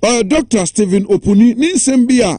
Ɔyɛ Doctor Stephen Opuni ne nsɛm bi a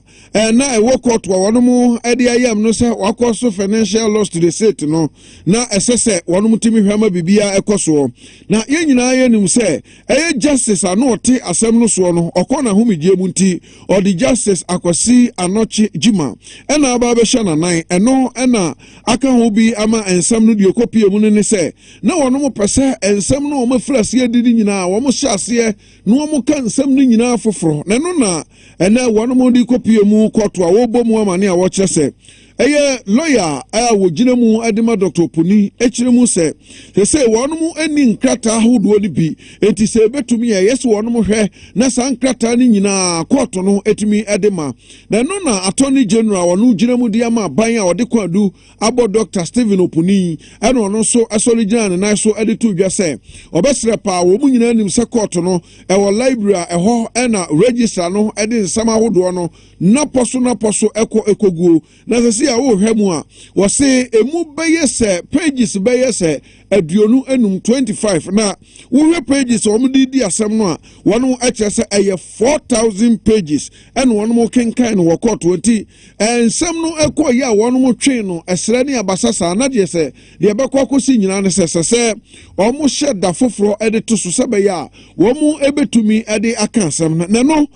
na ɛwɔ kɔɔto a wɔnom de ayam no sɛ wakɔ so financial loss to the state no na ɛsɛ sɛ wɔnom tumi hwɛ ma biribiara ɛkɔ soɔ. Na yɛn nyinaa yɛnim sɛ ɛyɛ Justice a na ɔte asɛm no soɔ no ɔkɔ n'ahomegyeɛ mu nti ɔde Justice Akwasi Anɔkye Gyima ɛna aba abɛhyɛ n'anan ɛno ɛna aka ho bi ama nsɛm no deɛ ɛkɔpie mu no ne sɛ na wɔnom pɛ sɛ nsɛm no a wɔafiri aseɛ di no nyinaa wɔn hyɛ aseɛ na wɔka nsɛm no nyinaa foforɔ, na ɛno na ɛnɛ wɔnom de kɔpie mu kɔɔto a wɔrebɔ mu amane a wɔkyerɛ sɛ ɛyɛ lɔya a wɔgyina mu de ma Dɔkta Oponi kyerɛ mu sɛ sɛ wɔnom ani nkrataa ahodoɔ no bi enti sɛ ɛbɛtumi a ɛyɛ sɛ wɔnom hwɛ na saa nkrataa no nyinaa kɔɔto no tumi de ma na ɛno na Attorney General wɔno gyina mu de ama aban a wɔde kwan du abɔ Dɔkta Stephen Opuni ɛna ɔno nso sɔre gyina ne nan so de to dwa sɛ ɔbɛsrɛ paa wɔn nyinaa nim sɛ kɔɔto no ɛwɔ library a ɛhɔ ɛna registra no de nsɛm ahodoɔ no napɔ so napɔ so ɛkɔ ɛkɔguo na sɛ si a wɔrehwɛ mu a wɔse ɛmu bɛyɛ sɛ pages bɛyɛ sɛ aduonu enum 25 na wohwɛ pages a wɔn de di asɛm no a wɔn ɛkyerɛ sɛ ɛyɛ 4000 pages ɛna wɔn kenkan no wɔ kɔɔto nti Nsɛm no kɔɔ yie a wɔnom twee no ɛserɛ ne abasa saa, na deɛ sɛ deɛ ɛbɛkɔ akɔsi nyinaa ne sɛ ɛsɛ sɛ wɔhyɛ da foforɔ de to so sɛ ɛbɛyɛ a wɔbɛtumi de aka asɛm no. Na ɛno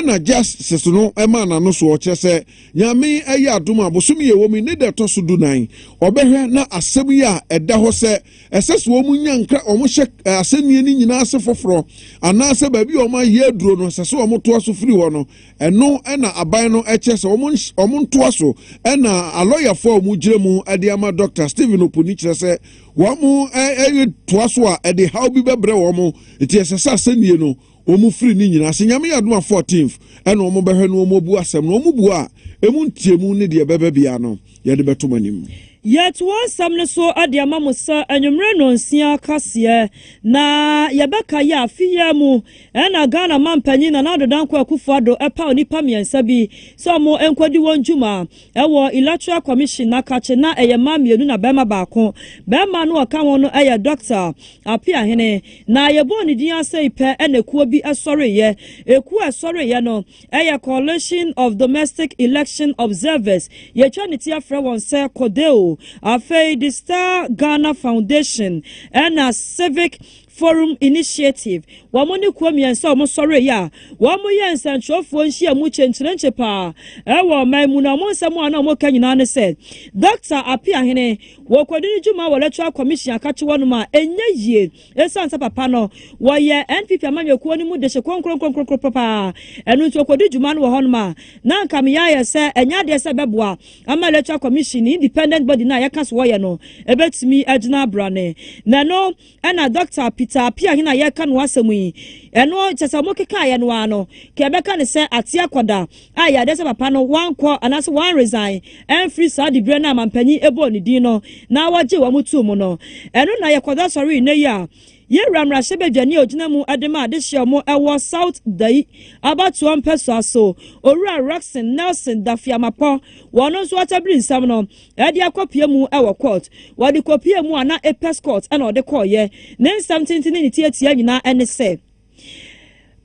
na Justice no maa n'ano soɔ, kyerɛ sɛ Nyame yɛ adom a bosome yɛ wɔ mu yi ne da ɛtɔ so du nan ɔbɛhwɛ na asɛm yi a ɛda hɔ sɛ ɛsɛ sɛ wɔn nya nkra wɔhyɛ asɛnnie no nyinaa ase foforɔ anaasɛ baabi a wɔayɛ aduro no ɛsɛ sɛ wɔtoa so firi hɔ no Ɛno na aban no kyɛ sɛ wɔntoa so na alɔyafoɔ a wɔgyina mu de ama Dɔkta Stephen Opuni kyerɛ sɛ wɔtoa so a ɛde haw bi bɛbrɛ wɔn nti ɛsɛ sɛ asɛnnie no wɔn firi ne nyinaa ase. Nyame yɛ adom a 14th ɛna wɔn bɛhwɛ no wɔn abu asɛm no. Wɔn bua a ɛmu nteamu ne deɛ ɛbɛba biara no yɛde bɛto mo anim. Yɛtoa nsɛm no so de ama mo sɛ anwummerɛ nnɔnsia kaseɛ na yɛbɛkae afe yi ara mu Ɛna Ghana Mampanyin Nana Addo Dankwa Akufo-Addo paw nnipa mmiɛnsa bi sɛ wɔn nkɔdi wɔn dwuma wɔ Electoral Commission na kakye na ɛyɛ mmaa mmienu na barima baako. Barima no a ɔka ho no yɛ Dɔkta Apeahene na yɛbɔɔ ne din ara sɛi pɛ na ekuo bi sɔreeɛ. Ekuo a ɛsɔreeɛ no yɛ Coalition of Domestic Election Observers, yɛtwa ne ti frɛ wɔn sɛ CODEO, afei The Star Ghana Foundation ɛna Civic Forum Initiative, wɔn ne kuo mmiɛnsa a wɔsɔreeɛ a wɔyɛɛ nsɛnkyerɛwfoɔ nhyiamu kyenkyerenkye paa wɔ ɔman mu, na wɔn nsɛm a na wɔka nyinaa ne sɛ, Dɔkta Apeahene, wɔkɔdi ne dwuma wɔ Electoral Commission a kakye hɔnom a ɛnyɛ yie ɛsiane sɛ papa no, wɔyɛ NPP amanyɔkuo no mu dehye kronkronkronkron paa, ɛno nti ɔkɔdi dwuma no wɔ hɔnom a, na anka me yea yɛ sɛ ɛnyɛ adeɛ sɛ ɛbɛboa ama Electoral Commission, independent body no a yɛka sɛ wɔyɛ no, ɛbɛtumi agyina abrane. Na ɛno. Ɛna Dɔkta Peter Appiah he na yɛreka no asɛm yi. Ɛno kyɛ sɛ wɔkekaeɛ no ara no, ka yɛbɛka no sɛ ate akɔda a yadeɛ sɛ papa no wankɔ anaasɛ wanresign amfiri saa diberɛ no a mampanyin bɔɔ ne din no na wɔgyee wɔn too mu no. Ɛno na yɛkɔda sɔre nnɛ yi a Yɛwura mmarahyɛbadwani a ɔgyina mu de ma adehyeɛ mu wɔ South Dayi abatoɔ mpɛsoa so, Owura Rockson Nelson Dafeamapɔ, wɔn nso wɔatabiri nsɛm no. Ɛde akɔpie mu wɔ court. Wɔde kɔpie mu a na Apex Court na ɔde kɔeɛ. Ne nsɛm tenten ne ne tiatia nyinaa ne sɛ,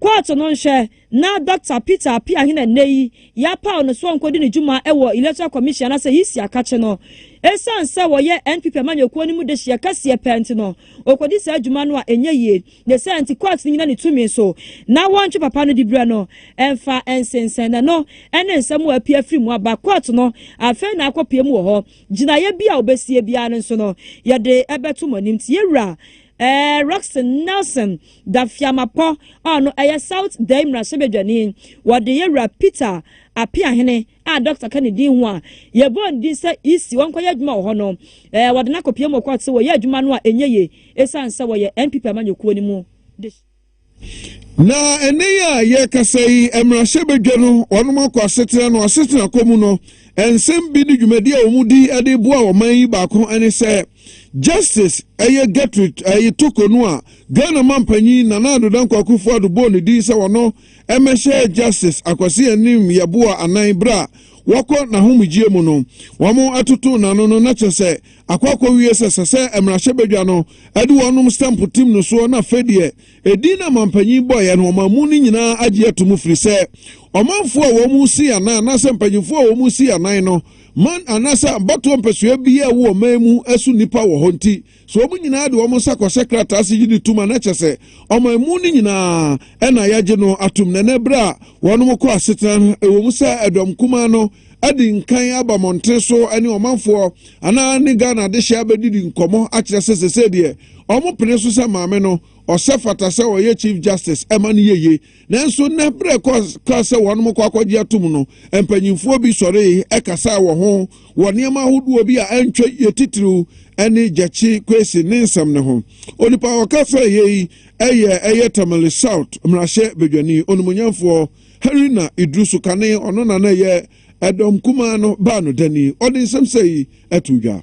Court no nhwɛ na Dɔkta Peter Apeahene a nnɛ yi yɛapaw no sɛ ɔnkɔdi ne dwuma wɔ Electoral Commission anaasɛ EC akakye no. Ɛsiane sɛ ɔyɛ NPP amanyɔkuo no mu dehyeɛ kɛseɛ paa nti no, ɔkɔdi saa dwuma no a ɛnyɛ yie. Ne saa nti, kɔɔte no nnyina ne tumi so na wɔntwe papa no diberɛ no mfa nsensɛn n'ano ne nsɛm a apue afiri mu aba. Kɔɔte no afei na akɔpue mu wɔ hɔ. Gyinaeɛ bi a wɔbɛsie biara no nso no, yɛde bɛto mo anim. Tiewura Rockson Nelson Dafiamapɔ a ɔno yɛ South Dayi mmarahyɛbadwani, wɔde Yɛwura Peter Apeahene, a dɔkta ka ne din ho a yɛbɔɔ ne din sɛ EC ɔnkɔyɛ adwuma wɔ hɔ no, eh, wɔde no akɔpia mu wɔ kɔɔto sɛ wɔyɛ adwuma no a ɛnyɛ yie ɛsiane sɛ wɔyɛ NPP amanyɔkuo no mu de. Na ɛnnɛ yi a yɛrekasa yi, mmarahyɛbadwa no wɔnom akɔ asetena no asetena kɔ mu no, nsɛm bi ne dwumadi a wɔn di de boa ɔman yi baako ne sɛ Justice ɛyɛ Gertrude ɛyi Toko no a Ghana mampanyin Nana Ado Dankwa Akufo-Addo bɔɔ ne din sɛ wɔno Mmɛhyɛ Justice Akwasi Anim Yeboah Anan Berɛ a Wakɔ N'ahomegyeɛ Mu No, Wɔn Atoto N'ano No Na Kyerɛ Sɛ Akɔ Akɔwie Sɛ Sɛ Sɛ Mmarahyɛ Badwa No Ade Wɔn Nom Stamp Tim No Soɔ Na Afei Deɛ Ɛdin No Amanpanyin Bɔeɛ No Wɔn Amu No Nyinaa Agye Ato Mu Firi Sɛ Ɔmanfoɔ A Wɔn Sii Anan Anaasɛ Mpanyinfoɔ A Wɔn Sii Anan No Man Anaasɛ Abatoɔ Mpɛsoa Biaa Wo Ɔman Mu Ɛso Nnipa Wɔ Hɔ Nti So wɔn nyinaa de wɔn nsa kɔhyɛ krataa ase gye di tom a, na kyerɛ sɛ ɔman mu no nyinaa na yɛagye no atom. Na ɛnnɛ bere a wɔnom kɔ asetena no, ɛwom sɛ ɛdɔm kumaa no adi nkan aba mmɔnten so ne ɔmanfoɔ anaa ne Ghana adehyeɛ abɛdidi nkɔmmɔ akyerɛ sɛ sesei deɛ wɔpene so sɛ Maame no ɔsɛ fata sɛ ɔyɛ Chief Justice ɛma no yɛye. Nanso nnɛ, bere a ɛkaa sɛ wɔnom kɔ akɔgye atom no, mpanyimfoɔ bi sɔree kasaa wɔ ho wɔ nneɛma ahodoɔ bi a antwa yie titiriw ne Gyakye Kwesi ne nsɛm no ho. Onipa a ɔka faa yei yi yɛ ɛyɛ Tamale South mmarahyɛ badwani, onimuonyamfoɔ Haruna Iddrisu Kane, ɔno na na ɛyɛ Ɛdɔm Kumaa no baa no dani. Ɔde nsɛm sɛi too dwa.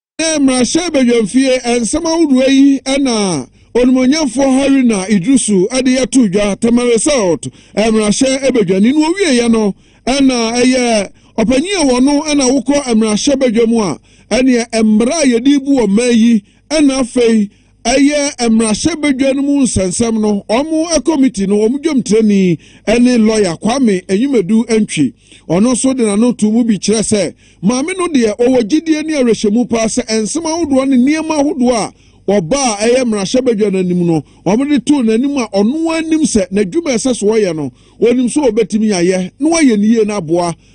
Ɛnna mmarahyɛbadwamfie nsɛm ahodoɔ yi na onimuonyamfoɔ Haruna Iddrisu de yɛ too dwa Tamale South mmarahyɛ badwani no ɔwieeɛ no na ɛyɛ ɔpanyin a wɔno na wokɔ mmarahyɛbadwa mu a ɛneɛ mmara a yɛde bu wɔ mmaa yi na afei Ɛyɛ mmarahyɛbadwa no mu nsɛnsɛm no wɔn kɔmiti no wɔn dwomtirani ne lɔya Kwame Enyimadu Antwi. Ɔno nso de n'ano too mu bi kyerɛ sɛ maame no deɛ wɔwɔ gyidie ne awerɛhyɛmu paa sɛ nsɛm ahodoɔ ne nneɛma ahodoɔ a wɔba a ɛyɛ mmarahyɛbadwa no anim no wɔde too n'anim a ɔno ara nim sɛ n'adwuma a ɛsɛ so ɔyɛ no ɔnim sɛ ɔbɛtumi ayɛ na wayɛ no yie na aboa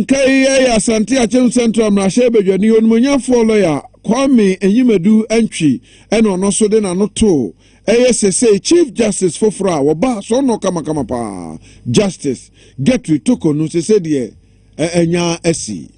Nka yi yɛ Asante Akyem Central Mmarahyɛ Badwani Onimonyamfoɔ Lɔya Kwame Enyimadu Antwi na ɔno nso de n'ano too ɛyɛ sesei Chief Justice foforɔ a wɔbaa soɔnɔ kamakama paa Justice Gertrude Toko no sesei deɛ anya asi.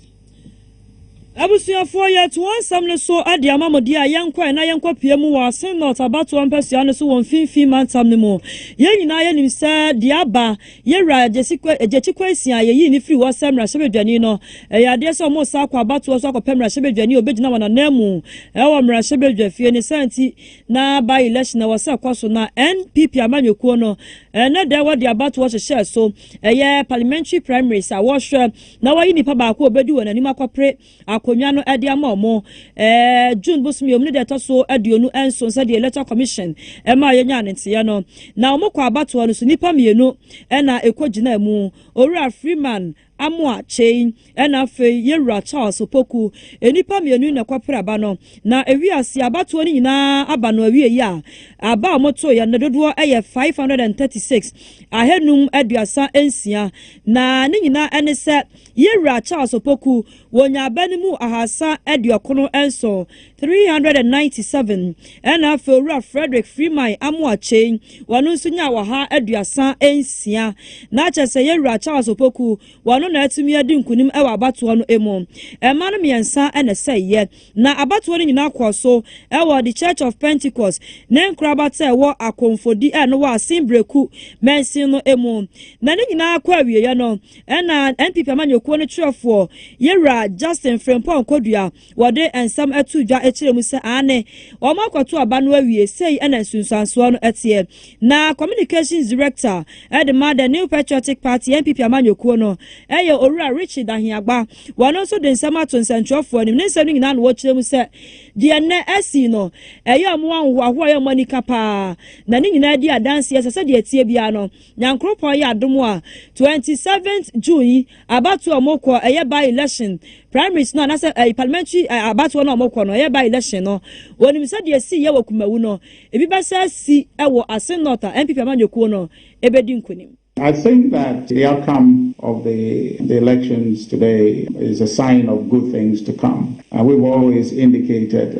Abusuafoɔ, yɛreto wɔn nsɛm no so de ama mo deɛ a yɛnkɔɛ na yɛnkɔpue mu wɔ Asin North abatoɔ mpasua no so wɔ Mfinfii mantam no mu. Yɛn nyinaa yɛnim sɛ deɛ aba Yewura Agyesi Kwa Agyekyi Kwasia, yeyii no firii hɔ sɛ mmarahyɛbadwani no, ɛyɛ adeɛ sɛ wɔresan akɔ abatoɔ so akɔpɛ mmarahyɛbadwani a ɔbɛgyina wɔn ananmu wɔ mmarahyɛbadwafie, ne saa nti na by election a ɛwɔ sɛ ɛkɔ so na NPP amanyɔkuo no ɛnnɛ da yi wɔde abatoɔ hyehyɛɛ so, ɛyɛ parliamentary primaries a wɔrehwɛ na wɔayi nipa baako a ɔbɛdi wɔn anim akɔpere akonnwa no de ama wɔn. Ɛɛ June bosom yɛ wɔn ne deɛ ɛtɔ so aduonu nson sɛdeɛ Electoral Commission ɛma yɛnyaa ne nteɛ no. Na wɔn kɔ abatoɔ no so nnipa mmienu ɛna ɛkɔ gyinaa mu. Owura Freeman Amoa Kyei ɛna afei Yɛwura Charles Opoku. Nnipa mmienu yi na ɛkɔ pere aba no. Na ɛwi aseɛ abatoɔ no nyinaa aba no awie yi a, aba a wɔn to yɛ no ne dodoɔ ɛyɛ 536, ahanum aduasa nsia. Na ne nyinaa ɛne sɛ Yɛn Wura Charles Opoku wɔ Nyaaba no mu ahaasa aduɔkono nson, 397, ɛna afei Owura Frederick Freeman Amoakyei wɔno nso nyaa ɔha aduasa nsia. Na kyerɛ sɛ Yɛn Wura Charles Opoku wɔno na atumi adi nkunim wɔ abatoɔ no mu. Mma no mmiɛnsa na ɛsɛeɛ. Na abatoɔ no nyinaa kɔɔ so wɔ The Church of Pentecost ne nkorabata a ɛwɔ Akomfodi a ɛno wɔ Asen Breku mansin no mu. Na ne nyinaa kɔ awieɛ no, Ɛna NPP amanyɔkuo no twerɛfoɔ Yɛwura Justin Frimpong Kodua wɔde nsɛm too dwa kyerɛɛ mu sɛ aane, wɔn akɔto aba no awie, sei ɛna nsunsuansoɔ no teɛ. Na Communications Director de ma The New Patriotic Party NPP amanyɔkuo no yɛ Owura Richie Dahiagba, wɔno nso de nsɛm ato nsɛntwerɛfoɔ anim, ne nsɛm no nyinaa na wɔkyerɛ mu sɛ deɛ nnɛ asii no ɛyɛ wɔn ahohoahoa ɛyɛ wɔn anika paa, na ne nyinaa di adanseɛ sɛ sɛdeɛ ɛteɛ biara no, Nyankoropɔn yɛ adom a twenty seventh June yi abatoɔ a ɔmo kɔ ɛyɛ by election primaries no anasɛ ɛyi parliamentary ɛ abatoɔ no a ɔmo kɔ no ɛyɛ by election no wɔnim sɛdeɛ esi yɛ wɔ Kumawu no ebi bɛsa asi ɛwɔ Asin North a NPP amanyɔkuo no ɛbɛdi nkunim. I think that the outcome of the the elections today is a sign of good things to come and we've always indicated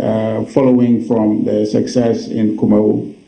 following from the success in Kumawu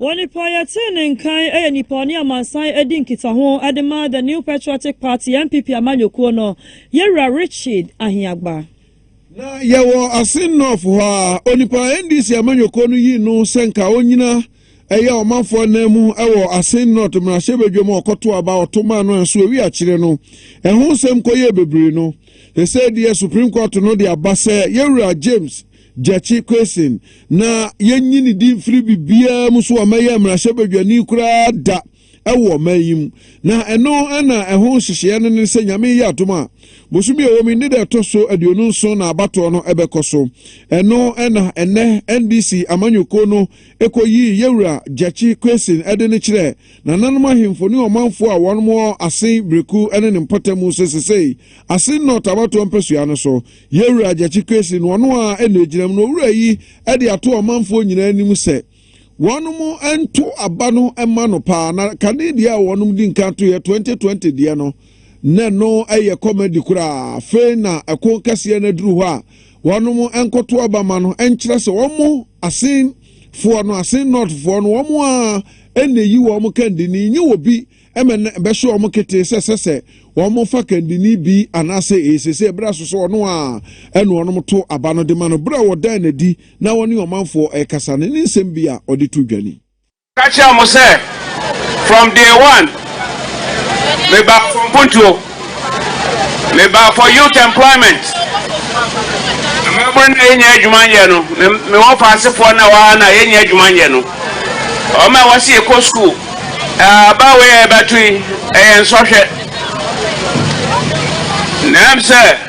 Wɔ nnipa a yɛtee ne nkan yɛ nnipa a ɔne amansan adi nkitaho de ma The New Patriotic Party, NPP, amanyɔkuo no yɛ Wura Richard Ahiagba. Na yɛwɔ Asin North hɔ a onipa a NDC amanyɔkuo no yii no sɛ nka ɔnyina ɛyɛ ɔmanfoɔ nan mu wɔ Asin North mmarahyɛbadwam a ɔkɔto aba a ɔto maa no anso awie akyerɛ no. Ɛho nsɛm kɔyɛɛ bebree no, sesei deɛ Supreme Court no de aba sɛ yɛ Wura James Gyakye Quayson, Na yɛnnye ne din mfiri biribiara mu so a mɛyɛ mmarahyɛbadwani koraa da wɔ ɔman yi mu. Na ɛno na ɛho nhyehyeɛ no ne sɛ Nyame yɛ adom a, bosome a ɛwɔ mu yi ne da ɛtɔ so aduonu nson na abatoɔ no bɛkɔ so. Ɛno na ɛnnɛ NDC amanyɔkuo no kɔyii Yɛwura Gyakye Quayson de no kyerɛ nananom ahemfo ne ɔmanfoɔ a wɔn wɔ Asen, Breku ne ne mpɔtam sɛ sesei Asen North abatoɔ mpasua no so Yɛn Wura Gyakye Kwesi no ɔno ara na ɛgyinam na Owura yi de ato ɔmanfoɔ nyinaa anim sɛ wɔnom nto aba no mma no paa na kane deɛ a wɔnom di nkan to yɛ 2020 deɛ no na ɛno yɛ kɔmadi koraa fei na ɛko kɛseɛ no aduru hɔ a wɔnom nkoto aba ma no nkyerɛ sɛ wɔn mo asen foɔ no asen nɔtfoɔ no wɔn a ɛna yi wɔn kandini nye wɔ bi ɛmɛ na ɛbɛhyɛ wɔn ketee sɛ ɛsɛ sɛ wɔfa kandini bi anaasɛ ɛsɛ sɛ ɛberɛ so sɛ ɔno a ɛna ɔnom to aba no de ma no berɛ a wɔdan n'adi na wɔne ɔmanfoɔ ɛrekasa no ne nsɛm bi a ɔde to dwani. Ɔka kyerɛɛ wɔn sɛ, From day one, mebaa Fɔmpontuo. Mebaa for youth employment. Mmabunu na yɛnya adwuma nyɛ no. Me me wɔfaasefoɔ na wɔa na yɛnya adwuma nyɛ no. Wɔn a wɔsi yɛkɔ sukuu. Aba wei a yɛbɛto yi ɛyɛ nsɔhwɛ. Nam sɛ.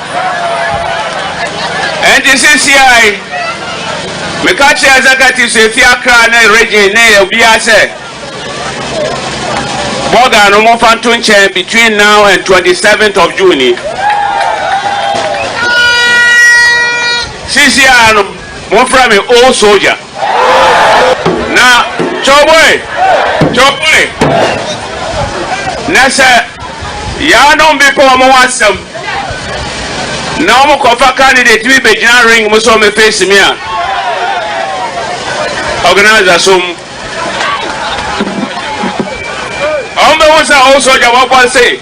Enti sesiae, meka kyerɛ executives a efi Accra ne region ne obiara sɛ, Burger no momfa nto nkyɛn between now and 27th of June yi. Sisiaa no. Monfrɛ me old soldier. Na Cowboy, Cowboy, na sɛ yɛanom bepɔ wɔn ho asɛm na wɔn kɔfa candidate bi bɛgyina ring mu sɛ wɔn face me a, organizer som. Wɔn bɛhu sɛ old soldier wɔbɔ se.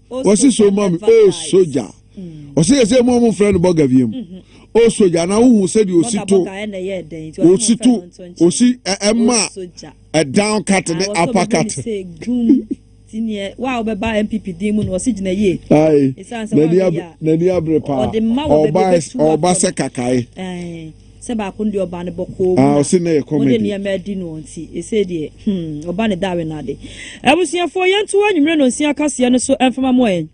ɔsi so ma me o sogya ɔsi yɛ sɛ mu ɔmo frɛ no bɔga wiem o sogya na wohu sɛdeɛ osi to osi to osi ɛma ɛdan kat ne apa kat. n'ani abere paa ɔba sɛ kakae. Sɛ baako de ɔba no bɔkɔɔ mu na ɔde nneɛma adi noɔ nti, ɛsei deɛ hmm, ɔba ne dawe no ade. Abusuafoɔ, yɛnto anwummerɛ nonsia kaseɛ no so mfama mɔ yɛn.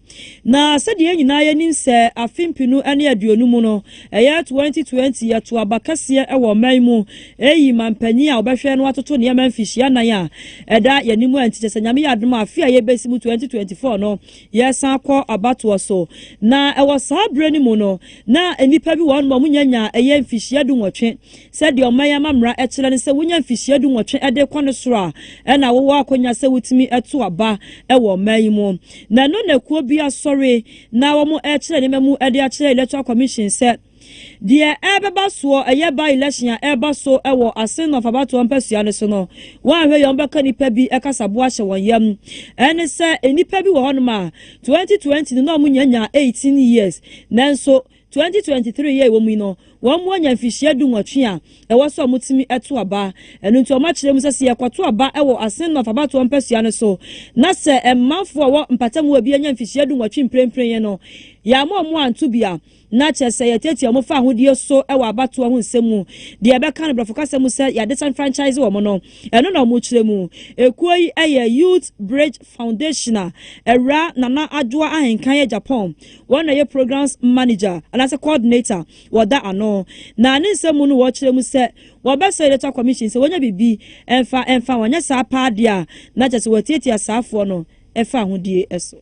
Na sɛdeɛ yɛn nyinaa yɛnim sɛ afe mpenu ne aduonu mu no, ɛyɛ 2020, yɛto aba kɛseɛ wɔ ɔman mu, eyi ma mpanyin a wɔbɛhwɛ no atoto nneɛma mfihyia nan a ɛda yɛn anim a nti kyerɛ sɛ Nyame yɛ adom a afe a yɛbɛsi mu 2024 no, Yɛsan kɔ abatoɔ so, na ɛwɔ saa berɛ no mu no, na nnipa bi wɔ hɔ nom a wɔnya nya ɛyɛ mfihyia dunwɔtwe. Sɛdeɛ ɔman yi amammerɛ kyerɛ ne sɛ wonya mfihyia dunwɔtwe de kɔ no soro a, ɛna wowɔ akwanya sɛ wotumi to aba wɔ ɔman yi mu. Na ɛno na kuo bi asɔre na wɔrekyerɛ nneɛma mu de akyerɛ Electoral Commission sɛ, Deɛ ɛrebɛba soɔ, ɛyɛ by election a ɛreba so wɔ Asin North abatoɔ mpasua no so no, woanhwɛ yie a wɔbɛka nnipa bi kasaboa ahyɛ wɔn yam. Ɛne sɛ, nnipa bi wɔ hɔnom a, 2020 no na wɔnyanyaa 18 years, nanso 2023 yɛ a ɛwɔ mu yi no, wɔanya mfirihyia dunwɔtwe a ɛwɔ sɛ wɔtumi to aba. Ɛno nti wɔakyerɛ mu sɛ, sɛ yɛkɔto aba wɔ Asin North abatoɔ mpasua no so, na sɛ mmanfoɔ a wɔwɔ mpatamu hɔ biara nya mfirihyia dunwɔtwe mprempren yi no, yɛamma wɔn anto bi a, na kyerɛ sɛ yɛtiatia wɔn fa ahodie so wɔ abatoɔ ho nsɛm mu, deɛ yɛbɛka no borɔfo kasa mu sɛ yɛadisenfranchise wɔn no, ɛno na wɔkyerɛ mu. Ekuo yi yɛ Youth Bridge Foundation a Awuraa Nana Adwoa Ahenkan yɛ Japan, wɔn na ɛyɛ Programs Manager anaasɛ Coordinator, wɔda ano. Na ne nsɛm mu no wɔkyerɛ mu sɛ wɔbɛsrɛ Electoral Commission sɛ wɔnya biribi mfa mfa wɔn, anyɛ saa paa deɛ a na kyerɛ sɛ wɔatiatia saafoɔ no fa ahodie so.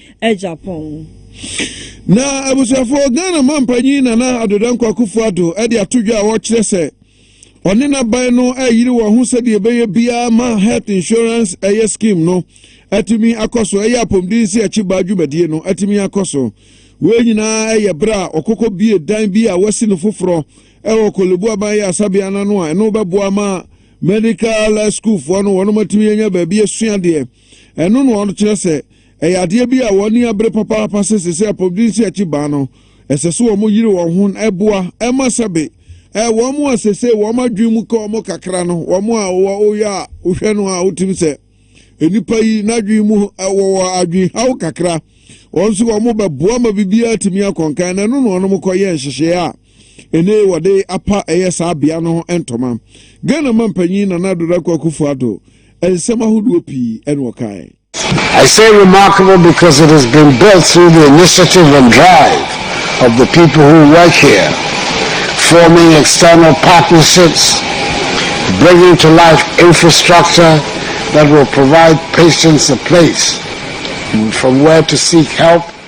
agyapong. Na abusuafo, Ghana mampanyin Nana Addo Dankwa Akufo Addo de ato dwa a ɔrekyerɛ sɛ ɔne n'aban no reyere wɔn ho sɛdeɛ ɛbɛyɛ biara ma Health Insurance ɛyɛ scheme no atumi akɔ so ɛyɛ apɔmuden sɛ akyibaa dwumadie no atumi akɔ so. Wei nyinaa ɛyɛ berɛ a ɔkɔkɔ bie dan bi a wasi no foforɔ ɛwɔ Korlebu Aban Yɛ Asabea no ano a ɛno bɛboa ma medical schoolfoɔ no wɔnom atumi anya baabi asua adeɛ. Ɛno na ɔkyerɛ sɛ ɛyɛ adeɛ bi a wɔn ani abere papaapa sɛ sɛ sɛ apɔwdensi akyi baa no, ɛsɛ sɛ wɔn yere wɔn ho na ɛboa ɛma sɛbe ɛɛ wɔn a sɛ sɛ wɔn adwene mu ka wɔn kakra no wɔn a wɔyɛ a wohwɛ no a wotim sɛ nnipa yi n'adwene mu ɛwɔ wɔ adwene haw kakra wɔn nso wɔn bɛboa ma biribiara tumi akɔnkan na ɛno na wɔn kɔyɛ nhyehyɛe a ne wɔde apa ɛyɛ saa bea no ntoma. Ghana mampanyin Nana Addo Dankwa Akufo Addo nsɛm ahodoɔ pii na ɔkae. I say remarkable because it has been built through the initiative and drive of the people who work here, forming external partnerships, bringing to life infrastructure that will provide patients a place from where to seek help.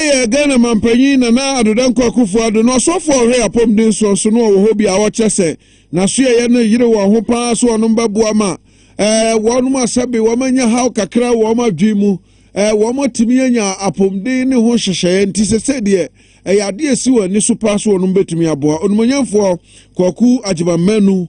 Yɛ Ghana Mampanyin Nana Addo Dankwa Akuffo Addo no ɔsɔfo a ɔhwɛ yɛ apɔmuden soɔ so no ɔwɔ hɔ bi a ɔkyɛ sɛ n'asoɛeɛ no yere wɔn ho pa ara so wɔnom bɛboa ma eh, wɔnom asɛbe wɔn anya haw kakra wɔn adwene mu eh, wɔn atumi anya apɔmuden ne ho nhyehyɛeɛ nti sɛsɛ deɛ ɛyɛ adeɛ ɛsi wɔn ani so pa so wɔnom bɛtumi aboa onimonyamfoɔ Kwaku Agyeman Manu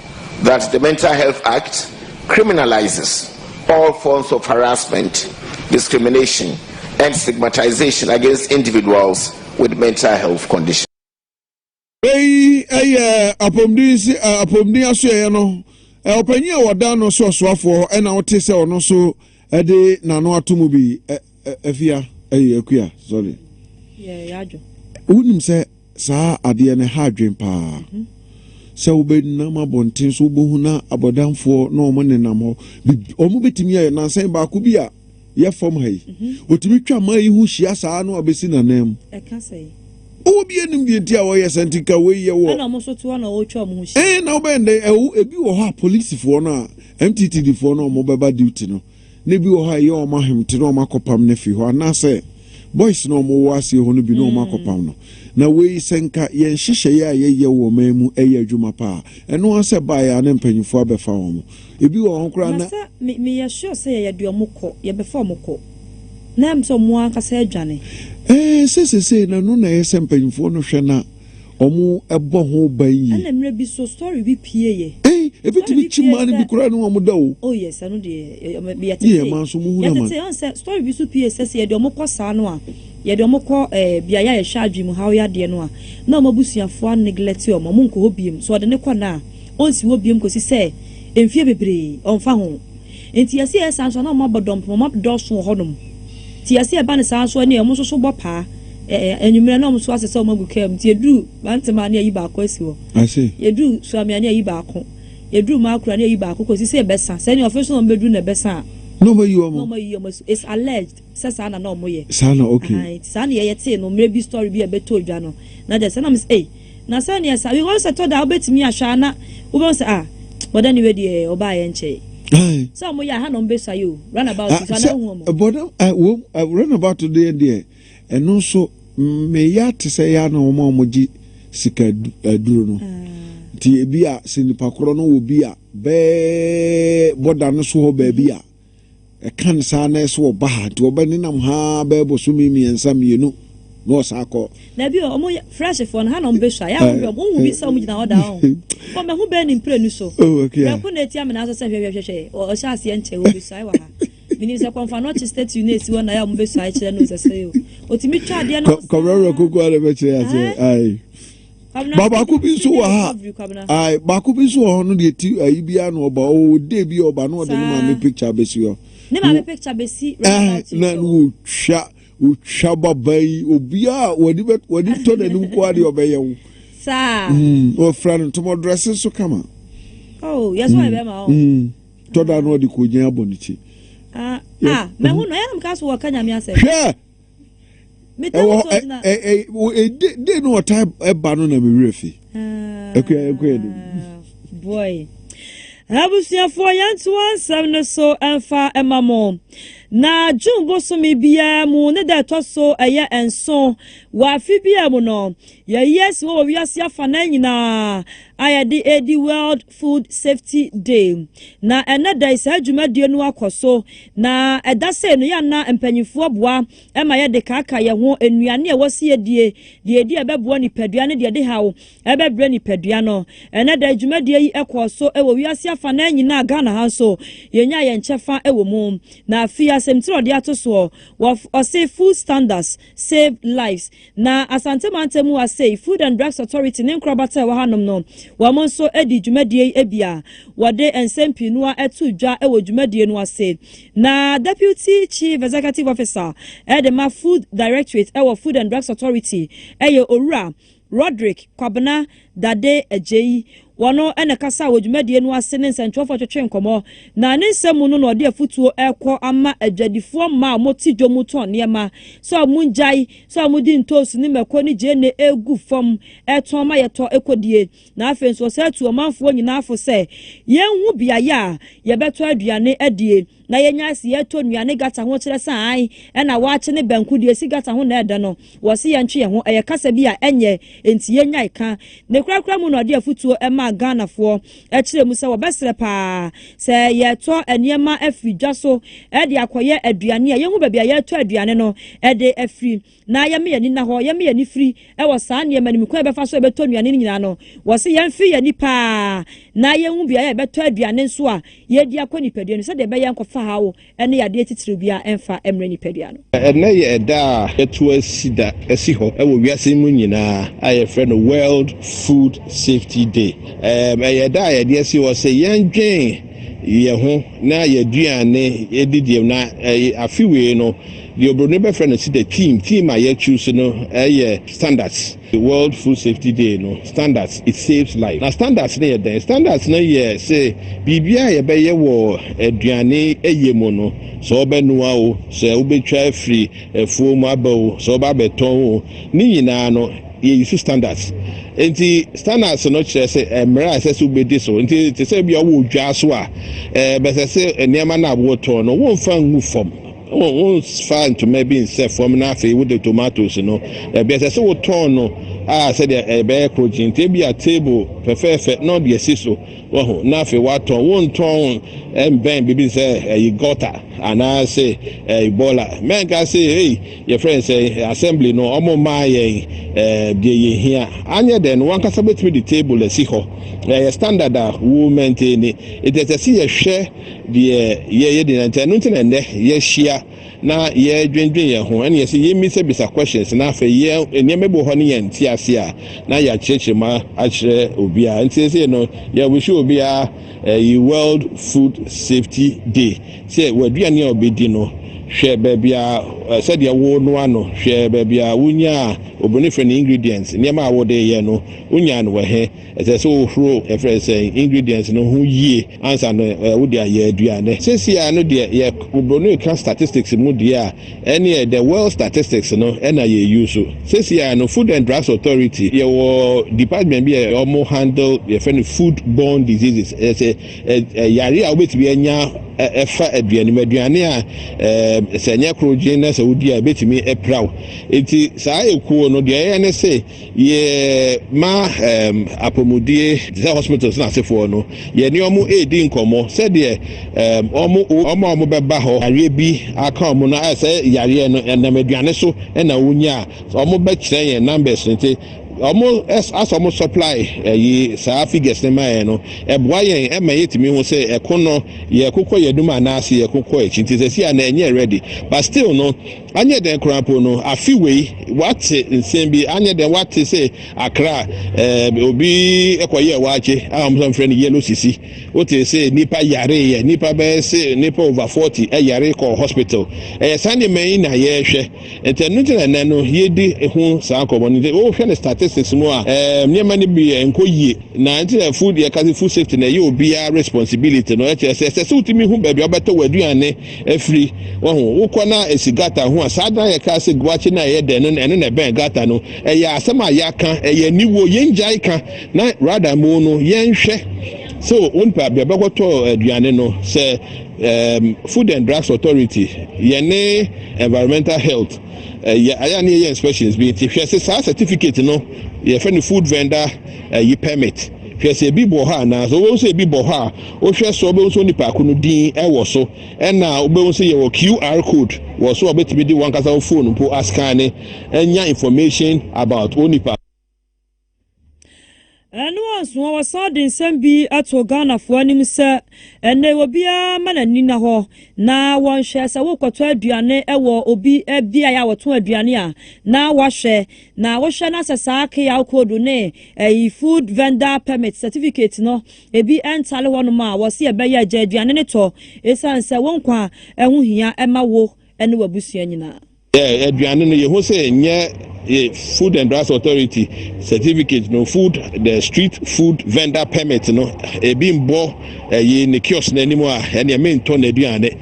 that the Mental Health Act criminalizes all forms of harassment, discrimination, and stigmatization against individuals with mental health conditions. Eyi yɛ apɔmuden si apɔmuden asoɛeɛ no ɔpanyin a wɔda no so ɔsoafoɔ ɛna ɔte sɛ ɔno nso Ɛde n'ano ato mu bi ɛ ɛ afia ɛyɛ akua sorry. Yɛ yadwo. Wonim sɛ saa adeɛ no ha adwen paa. Mm -hmm. Sɛ wobɛnam abɔnten so wobɛhu na abɔdamfoɔ na wɔn nenam hɔ wɔn bɛtumi ayɛ nansan baako bi a yɛ fam ha yi wɔtumi mhm. twa maa yi ho hyia saa na wabɛsi nanan mu. Ɛka sɛ yi. Owó bi enim deɛ nti a wɔyɛ sɛ nti ka wei yɛ wɔ. Ɛna wɔn nso to hɔ na wɔtwa wɔn ho hyia. Ɛn na wɔbɛn dɛ ɛwɔ ebi wɔ hɔ a polisifoɔ no a MTTD foɔ no ɔmo bɛba duty no na ebi wɔ hɔ a ɛyɛ wɔn ahemte na wɔn akɔpam no afi hɔ anaasɛ boys na wɔn wɔ aseɛ hɔ no bi na wɔn akɔpam no na wei sɛ nka yɛn nhyehyɛeɛ a yɛyɛ wɔ ɔman mu ɛyɛ adwuma paa ɛno ara sɛ baeɛ a na mpanyinfoɔ abɛfa wɔn ebi wɔ hɔ koraa na. Nasa me me yɛ sure sɛ yɛyɛ de wɔn kɔ yɛbɛfa wɔn kɔ na ɛm sɛ wɔn ankasa adwane. Ɛɛ sɛ sesei na ɛno na ɛyɛ sɛ mpanyinfoɔ no hwɛ na. ɔmo ɛbɔ ho ban yie. Ɛna mmerɛ bi so story bi pie yɛ. Ei ɛfitumi kyi maa no bi koraa ne ɔmo da o. Oh yes ɛno deɛ yɛtetee. Yɛ ɛmaa nso ɔmo hu naman. Yɛtetee ɔn sɛ story bi so pie sɛ sɛ yɛde ɔmo kɔ saa no a yɛde ɔmo kɔ eh biaɛ a yɛhwɛ adwene mu haw yadeɛ no a na ɔmo abusuafoɔ a neglect ɔmo ɔmo nkɔ hɔ biem so ɔde no kɔ no a ɔnsi hɔ biem kɔsi sɛ mfie bebree ɔnfa ho Nti yɛse yɛyɛ saa nso a na wɔabɔ dɔmpem, wɔn adɔɔso wɔ hɔnom. Nti yɛse ɛba no saa nso a, nneɛ wɔn nso so bɔ paa. Ɛɛ, anwummerɛ na wɔn nso asesa wɔn agu kaa mu. Nti yɛduru Mantema a na yɛayi baako asi hɔ. I see. Yɛduru Suame a na yɛayi baako. Yɛduru Makro a na yɛayi baako kɔsi sɛ ɛbɛsa. Sɛ nneɛ ɔfe so na wɔn bɛduru na ɛbɛsa a, Na wɔayi wɔn. na wɔayi wɔn asi hɔ. It's alleged. sɛ saa na na ɔmo yɛ. Saa na ok. Ahaa nti saa neyɛ yɛtee no mmerɛ bi story bi a ɛbɛtɔɔ dwa no na gya sɛ na ɔmo sɛ ei na sɛ neɛ saa because ɛtɔ da a wobɛtumi ahwɛ a na wobɛhu sɛ ah bɔda ne wei deɛ ɔbaayɛ nkyɛɛ Ae. sɛ ɔmo yɛ a ha na ɔmo bɛsua yɛ o run about Ah nso anaa sɛ wohu ɔmo. bɔda ah wom ah run about deɛ deɛ ɛno nso me ya te sɛ ya na ɔmo a ɔmo gye sika adu aduro no Ah. nti ebi a sɛ nipa korɔ no wɔ bi a bɛɛ bɔda no so hɔ baabi a. Ɛkan saa na ɛso ɔba ha nti ɔbɛ nenam ha ara bɛyɛ bosome mmiɛnsa mmienu na ɔsan kɔ. Dabi o, ɔmo yɛ fresh foɔ no ha na ɔmo bɛ sua, yɛ a wo hwɛ ɔmo, wo hu bi sɛ ɔmo gyina hɔ daa ɔn, bɔ mɛ hu bɛɛ ne mprenu so, brɛko na etia me nanso sɛ hwɛ hwɛ hwɛ hwɛ ɔhyɛ aseɛ nkyɛ wɔ bɛ suae wɔ ha, me nim sɛ kɔnfanɔkye statue no esi hɔ na yɛ a ɔmo bɛ suae kyerɛ no sɛ sɛ o, otumi twa adeɛ no saa, ae. ba baako bi nso wɔ ha ayi baako bi nso wɔ hɔ no deɛ ti ayi bi ano ɔba ɔwɔ dee bi ɔba no ɔde ne maame picture besi hɔ ne maame picture besi ɛɛ na no otwa otwa baba yi obiara wɔde bɛ wɔde tɔ n'anim kɔ adeɛ ɔbɛyɛ wo saa mm, wɔfra no ntoma dress nso kama oh yɛ so ɛbɛ ma ɔ tɔda no ɔde kɔ gyina abɔ ne ti ah ah mɛhu no ɛyɛ na mo ka so wɔ ka nyame asɛm hwɛ ɛwɔ hɔ ɛ ɛ ɛ de de no ɔtaa ɛba no na mi wura fi ɛkɔ yɛ ɛkɔ yɛ de. boy abusuafoɔ yɛntoa nsɛm no so ɛmfa ɛma mo na june bosome biara mu ne da ɛtɔ so ɛyɛ nso wɔ afe biara mu no yɛyi asi wɔ wiase afa na nyinaa a yɛde ɛdi world Food Safety Day. Na ɛnnɛ da yi saa dwumadie no akɔ so. Na ɛda sei no yɛ a na mpanimfoɔ boa ma yɛde kaaka yɛn ho nnuane a ɛwɔ sɛ yɛdie, deɛ yɛdi a ɛbɛboa nipadua ne deɛ ɛde haw bɛbrɛ nipadua no. Ɛnnɛ da yi dwumadie yi kɔɔ so wɔ wiase afanaa nyinaa, Ghana ha nso yɛnyaa yɛn kyɛfa wɔ mu. Na afei asɛmti a wɔde ato soɔ, wɔse Food Standards. Save Lives. Na Asante mantam mu ha sei, Food and Drugs Authority ne nkorabata a ɛwɔ hanom no, wɔn nso dii dwumadie yi bi a wɔde nsɛm pii no ara too dwa wɔ dwumadie no ase. Na Deputy Chief Executive Officer de ma Food Directorate wɔ Food and Drugs Authority yɛ Owura Rodrick Kwabena Dade Agyei, wɔno na ɛkasaa wɔ dwumadie no ase ne nsɛntwerɛfoɔ twetwee nkɔmmɔ, na ne nsɛm mu no na ɔde afutuo rekɔ ama adwadifoɔ mmaa a wɔte dwom mu tɔn nneɛma sɛ wɔngyae sɛ wɔde ntoosi ne mako ne gyeene regu fam retɔn ma yɛtɔ ɛkɔdie, na afei nso ɔsan tuu ɔmanfoɔ nyinaa fo sɛ yɛnhu beaeɛ a yɛbɛtɔ aduane adie. na yɛnya ase yɛtɔ nnua ne gata ho kyerɛ sɛ ae ɛna wɔakye ne banku deɛ ɛsi gata ho na ɛdɛ no wɔse yɛntwe yɛn ho ɛyɛ kasa bi a ɛnyɛ enti yɛnyae ka ne korakora mu na ɔde afutuo maa Ghanafoɔ ɛkyerɛ mu sɛ wɔbɛserɛ paa sɛ yɛtɔ nneɛma afiri dwa so de akɔyɛ aduane a yɛhu baabi a yɛtɔ aduane no de afiri na yɛma yɛn ani nna hɔ, yɛma yɛn ani firi wɔ saa nneɛma no mu, kwan a yɛbɛfa so a yɛbɛtɔ nnuane no nyinaa no, wɔse yɛmfee yɛn ani paa na yɛnhu beaeɛ a yɛbɛtɔ aduane nso a yɛadi akɔ nipadua no mu sɛdeɛ ɛbɛyɛ a ɛnkɔfa haw ne yadeɛ titiriw biara mfa mmrɛ nipadua no. Ɛnnɛ yɛ ɛda a yɛato asi da asi hɔ wɔ wiase yi mu nyinaa a yɛfrɛ no World Food Safety Day. Ɛyɛ ɛda a yɛde asi hɔ sɛ yɛndwen yɛn ho na yɛn aduane didie mu na afe wei no Deɛ obroni bɛfrɛ no sida theme theme a yɛ choose no ɛyɛ standards world food safety day no standards it saves life na standards no yɛ dɛn standards no yɛ se biribi a yɛbɛyɛ wɔ aduane ɛyɛ mu no sɛ ɔbɛnoa o sɛ wobɛtwa afiri afuo mu aba o sɛ ɔba bɛtɔn o ne nyinaa no yɛyi so standards nti standards no kyerɛ sɛ mmerɛ a ɛsɛ sɛ wobɛdi so nti te sɛ bia wɔ dwa so a ɛbɛsɛ sɛ nneɛma no a wotɔn no womfa ngu fam Wo wonfa ntoma bi nsɛ fam na afei wode tomatoes no ɛbi ɛsɛ sɛ wotɔn no a sɛdeɛ ɛbɛyɛ krokye nti ebi a table fɛfɛɛfɛ na ɔde asi so wahu na afei watɔn wontɔn ɛmbɛn biribi sɛ ɛyi gɔta anaasɛ ɛyi bɔla mɛnka sɛ ei yɛfrɛ no sɛ assembly no ɔmo mmaa yɛn ɛɛ deɛ yɛhia anyɛ dɛ no wankasa bɛtumi de table asi hɔ ɛyɛ standard a wo maintain it ɛsɛ sɛ yɛhwɛ deɛ yɛyɛ deɛ nti ɛno nti na ɛnɛ yɛahyia na yɛdwendwen yɛn ho ɛne yɛsɛ yɛmmisabisa questions na afei yɛ nneɛma bi wɔ hɔ ne yɛn nte ase a na yɛakyerɛkyerɛ mu akyerɛ obiara nti sɛ no yɛwihyɛ obiara ɛyi eh, world food safety day sɛ w'aduane a ɔbɛdi no hwɛ baabi a eh, sɛdeɛ wo no ano hwɛ baabi a wonya a obɛne frɛ no ingredients nneɛma a wode yɛ no wonya no wɔ he Ɛsɛ sɛ wohoro yɛfrɛ no sɛn ingredients no ho yie ansa no wode ayɛ aduane. Sɛsi ara no deɛ yɛ Broni ka statistics mu deɛ a ɛneɛ the world statistics no na yɛ use. Sɛsi ara no food and drugs authority yɛwɔ department bi a wɔn handle yɛfrɛ no food borne diseases ɛsɛ yare a wobɛtumi anya ɛfa aduane mu aduane a sɛ ɛnyɛ koro gyen na sɛ wodi a ɛbɛtumi ɛpiraw. Nti saa ekuo no deɛ ɛyɛ ne se Yɛ ma um, apɔmudie te sɛ hospitals no asefoɔ no yɛne ɔmo ɛredi nkɔmmɔ sɛdeɛ um, ɔmo ɔmo a ɔmo bɛba hɔ yareɛ bi aka ɔmo no ayɛ sɛ yareɛ no ɛnam aduane so ɛna wonya a ɔmo bɛkyerɛ yɛn numbers no nti ɔmo asɛ ɔmo supply ɛyi eh, saa figures no ma yɛn no ɛboa yɛn ɛma yɛtumi ho sɛ ɛko no yɛkokɔ yɛnum anaasɛ yɛkokɔ akyi nti sɛ si a na ɛnyɛ ready but still no Anyɛ dɛn koraa mpo no, afe wei woate nsɛm bi, anyɛ dɛn woate sɛ akra eh, obi kɔyɛɛ waakye a wɔn nso mfrɛ no yellow sisi. Wote sɛ nnipa yareeɛ, nnipa bɛyɛ se nnipa over 40 ɛyare kɔɔ hospital. Ɛyɛ saa nneɛma yi na yɛrehwɛ. Nti ɛno nti na ɛnɛ no yɛdi ho saa nkɔmmɔ no. Nti wohwɛ no statistics mu a, eh, nneɛma no bi ɛnkɔ yie. Na nti na food, yɛka sɛ food safety no ɛyɛ obiara responsibility no, ɛkyerɛ sɛ ɛsɛ sɛ wotumi hu baabi a wobɛtɔ w'aduane, afiri. Wahu, wokɔ na esi gata ho a, saa dan a yɛkaa sɛ guakye na ɛyɛ dɛ no, ɛno na ɛbɛn gata no. Ɛyɛ asɛm a yɛaka, ɛyɛ aniwuo, yɛngyae ka, na rather mu no, yɛnhwɛ. So, wo nipa bɛ bɛkɔtɔ aduane no, sɛ um, Food and Drugs Authority, yɛne Environmental Health, ɛyɛ eh, ayɛ ne yɛyɛ inspections bi, nti hwɛ se saa certificate no, yɛfɛ no food vendor ɛyi eh, permit. Hwɛ sɛ ebi bɔ hɔ anaa. Sɛ wobɛhu sɛ ebi bɔ hɔ a, wohwɛ so a wobɛhu sɛ onipa ko no din wɔ so. Ɛna wobɛhu sɛ yɛwɔ QR code wɔ so a wobɛtumi de wankasa wo phone mpo askane anya information about onipa. Ɛno anso a, wɔsan de nsɛm bi ato Ghanafoɔ anim sɛ, ɛnnɛ yi obiara ma n'ani nna hɔ na wɔnhwɛ sɛ worekɔtɔ aduane wɔ obi beaeɛ a wɔtɔn aduane a, na wahwɛ Na wohwɛ na sɛ saa keyaw koodu ne ɛyi food vendor permit certificate no ebi ntare hɔnom a, wɔse ɛbɛyɛ agya aduane no tɔ esiane sɛ wo nkwa ho hia ma wo ne w'abusua nyinaa. Yɛ aduane no, yehu sɛ ɛnyɛ yɛ Food and Drugs Authority certificate no, food the street food vendor permit no, ebi mbɔ ɛyi ne kiosk no anim a, ɛneɛ mentɔ n'aduane.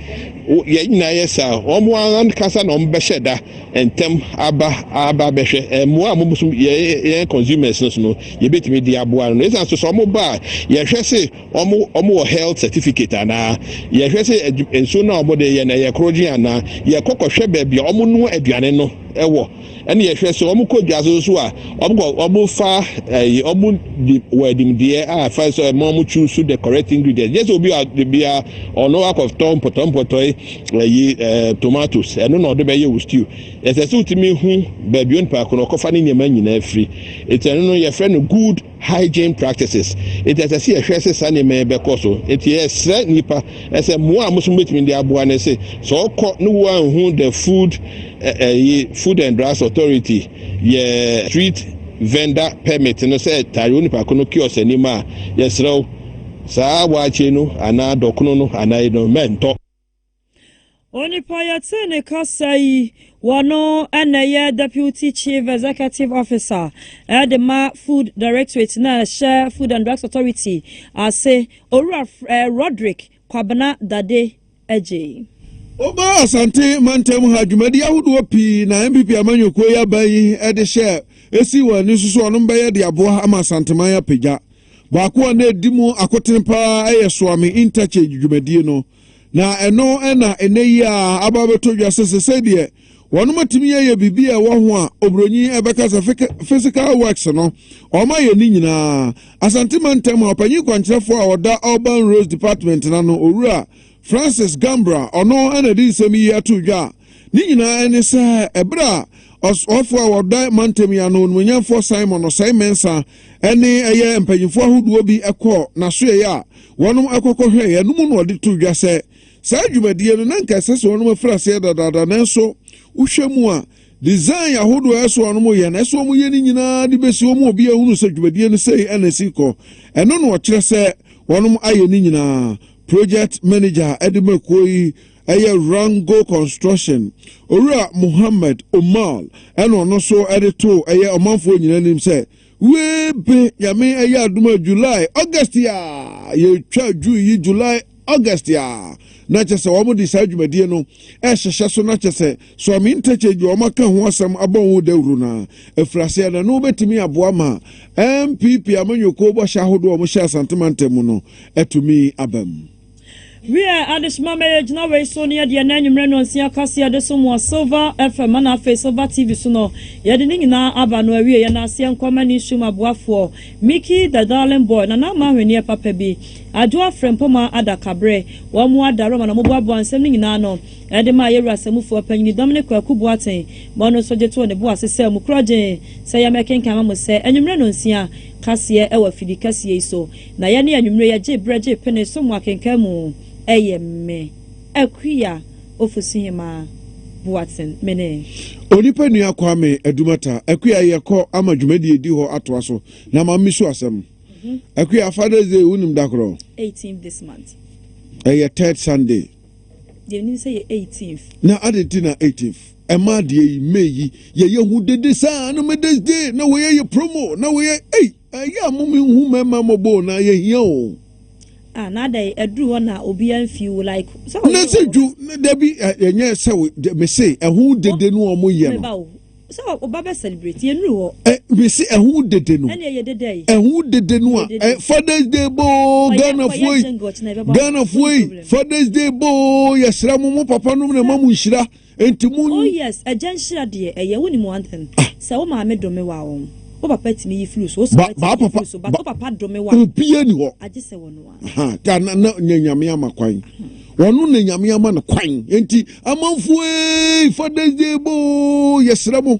Yɛn nyinaa yɛ saa, wɔn ankasa na wɔbɛhyɛ da ntɛm aba aba bɛhwɛ mmoa a wɔn so yɛn consumers no so no yɛbɛtumi de aboa no ɛsan so sɛ wɔn ba a yɛhwɛ se wɔn wɔn wɔ health certificate anaa yɛhwɛ se nsuo no a wɔn de yɛ na yɛ korogye anaa yɛkɔ kɔhwɛ baabi a wɔn noa aduane no ɛwɔ ɛna yɛhwɛ se wɔn kɔ dwa so so a wɔn kɔ wɔn fa ɛyi wɔn di wɔ adimdeɛ a fa so ɛma wɔn choose the correct ingredients yɛ sɛ obi a obi a ɔno akɔtɔ mpɔtɔmpɔtɔe ɛyi ɛɛ tomatoes ɛno na ɔde bɛyɛ wɔ stew ɛsɛ sɛ wotumi hu baabi onipa ako na ɔkɔfa ne nneɛma nyinaa firi eti ɛno no yɛfrɛ no good hygiene practices eti ɛsɛ sɛ yɛhwɛ sɛ saa nneɛma yi bɛkɔ so eti yɛsrɛ nipa ɛsɛ mmoa a mosom betumi de aboa ne se sɛ ɔkɔ ne wo anhu the food ɛyi food and drugs authority yɛ street vendor permit no sɛ taare onipa ko no kiosk anim a yɛsrɛ Saa waakye no anaa dɔkono no anaa eyi no, mɛntɔ. Onipa yɛtee ne kasa yi wɔ no na ɛyɛ Deputy Chief Executive Officer de ma Food Directorate no a ɛhyɛ Food and Drugs Authority ase, Owura Roderick Kwabena Dade, gyei. Woba Asante mantam ha a, dwumadi ahodoɔ pii na NPP amanyɔkuo yi aban yi de hyɛ ɛsii wɔn ani so sɛ wɔnom bɛyɛ de aboa ama Asanteman apagya. Baako a na ɛdi mu akotene pa ara yɛ Soame Interchange dwumadie no. Na ɛno na ɛnnɛ yi ara aba abɛtɔ dwa sɛ sesei deɛ, Wɔatumi ayɛ biribi a ɛwɔ ho a Oburoni bɛka sɛ physical works no, wɔayɛ ne nyinaa. Asante Mantam ha ɔpanyin kwankyerɛfo a ɔda Urban Roads Department no ano, Owura Francis Gambra, ɔno na ɛde nsɛm yi ato dwa a ne nyinaa ne sɛ ɛberɛ a ɔsoafo a ɔda mantam yi ano, Onumonyamfoɔ Simon Osei Mensa ne ɛyɛ mpanyinfoɔ ahodoɔ bi kɔɔ n'asoɛeɛ a wɔnom kɔkɔhwɛeɛ no mu na ɔde to dwa sɛ Saa dwumadie no na nka ɛsɛ sɛ wɔnom afiri aseɛ dadaada nanso wohwɛ mu a design ahodoɔ a ɛsɛ wɔnom yɛ no ɛsɛ wɔn yɛ no nyinaa de bɛsi wɔn obi ahunu sɛ dwumadie no sei ɛna ɛsi kɔ ɛno na ɔkyerɛ sɛ wɔnom ayɛ no nyinaa project manager ɛde ma kuo yi ɛyɛ Rango Construction Owura Mohammed Umar ɛna ɔno nso ɛde too ɛyɛ ɔmanfoɔ nyinaa anim sɛ Wei be Nyame ɛyɛ adom a July, August a yɛtwa June yi July, August a na kyɛ sɛ wɔn de saa dwumadie no ɛhyehyɛ so na kyɛ sɛ Swami Interchange wɔn aka ho asɛm abɔ ho dawuro no afiri aseɛ na no bɛtumi aboa ma NPP amanyɔkuo bɔhyɛ ahodoɔ a wɔhyɛ Asante mantam mu no atumi abam. Wiɛ, ade soma ma yɛgyina wei so ne ɛdeɛ na anwummerɛ nnɔnsia kaseɛ yɛde som wɔ Silver FM ana afei Silver TV so no. Yɛde ne nyinaa aba no awie. Yɛn aseɛ nkɔ ma ne som aboafoɔ, Mickey the Darling Boy, Nana Ama Ahweneɛ Papa Bi, Adwoa Frempoma Adakabere. Wɔn mo adaro ama na wɔn boaboa nsɛm no nyinaa ano de ma yɛn Wura Samufua Panyini Dominic Kwaku Boateng. Mo ano nso gye too ne bo ase sɛ mo kura gyee sɛ yɛmɛkenkan ama mo sɛ anwummerɛ nnɔnsia kaseɛ wɔ afidikɛseɛ yi so. Na yɛne anwummere yɛ gye berɛ gye pene so mu akenkan mu ɛyɛ me Akua Ofosuhemaa Boateng mene. Onipa nua Kwame Adumata Akua yɛ kɔ ama dwumadie edi hɔ atoa so na ma me su asɛm Akua Father's Day wo nim da korɔ? Eighteenth this month. Ɛyɛ third Sunday. Deɛ me nim sɛ yɛ eighteenth. Na adɛn nti na eighteenth? Ɛmaa deɛ yi May yi yɛ yɛ hu dede saa na Mother's Day na wɔ yɛ yɛ promo na wɔ yɛ ei. Ɛyɛ a mom nhu mɛma mmɔbɔ o na yɛhia o. Ah na adɛn aduru hɔ na obi anfi wo like sɛ ɔyɛ. Nɛsɛ dwu dabi ɛnyɛ sɛ wo mese ɛho dede no ɔmo yɛ no. Meba o sɛ ɔba bɛ celebrate yɛnuru hɔ. Mese ɛho dede no. Ɛne ɛyɛ dede ayi. Ɛho dede no a fathers day bɔ o Ghanafoɔ yi Ghanafoɔ yi fathers day bɔ o yɛsrɛ mo mo papa nom na ɛma mo nhyira. Enti mo. Oh yes agya nhyira deɛ ɛyɛ wo nim one thing sɛ wo maame dome wa wo wo papa tumi yi flu so wo sɔre tumi yi flu so but wo papa dome wa agye sɛ wɔno a. Aha ta na na na nyame ama kwan wɔno na nyame ama no kwan enti amanfo ee father's day boo yɛsrɛ mo.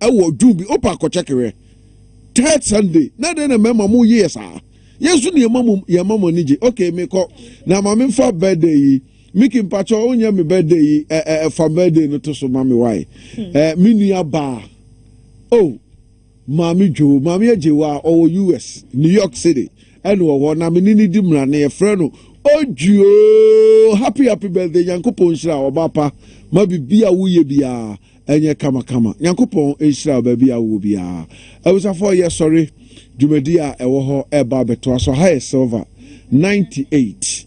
ɛwɔ dwom bi opa akɔkyɛke hwɛ third sunday na dɛn na mmarima mo yeyɛ saa yɛn nso ne yɛma mo yɛma mo ani gye okay mekɔ na ma me mfa birthday yi miki mpakyɛ onyɛ me birthday yi ɛ eh, ɛ eh, fa birthday no to so ma me wae hmm. ɛ eh, me nua baa oh maame dwo maame agyewa a ɔwɔ us new york city ɛna wɔ hɔ na me ne ne di mmara na yɛfrɛ no ojuo happy happy birthday nyankopɔn nhyira ɔba pa ma biribi a woyɛ biara ɛnyɛ kamakama. Nyankopɔn nhyira wo baabi a wowɔ biara. Abusuafoɔ yɛ sɔre dwumadie a ɛwɔ hɔ ɛreba abɛtoa so. Aha yɛ Silver ninety eight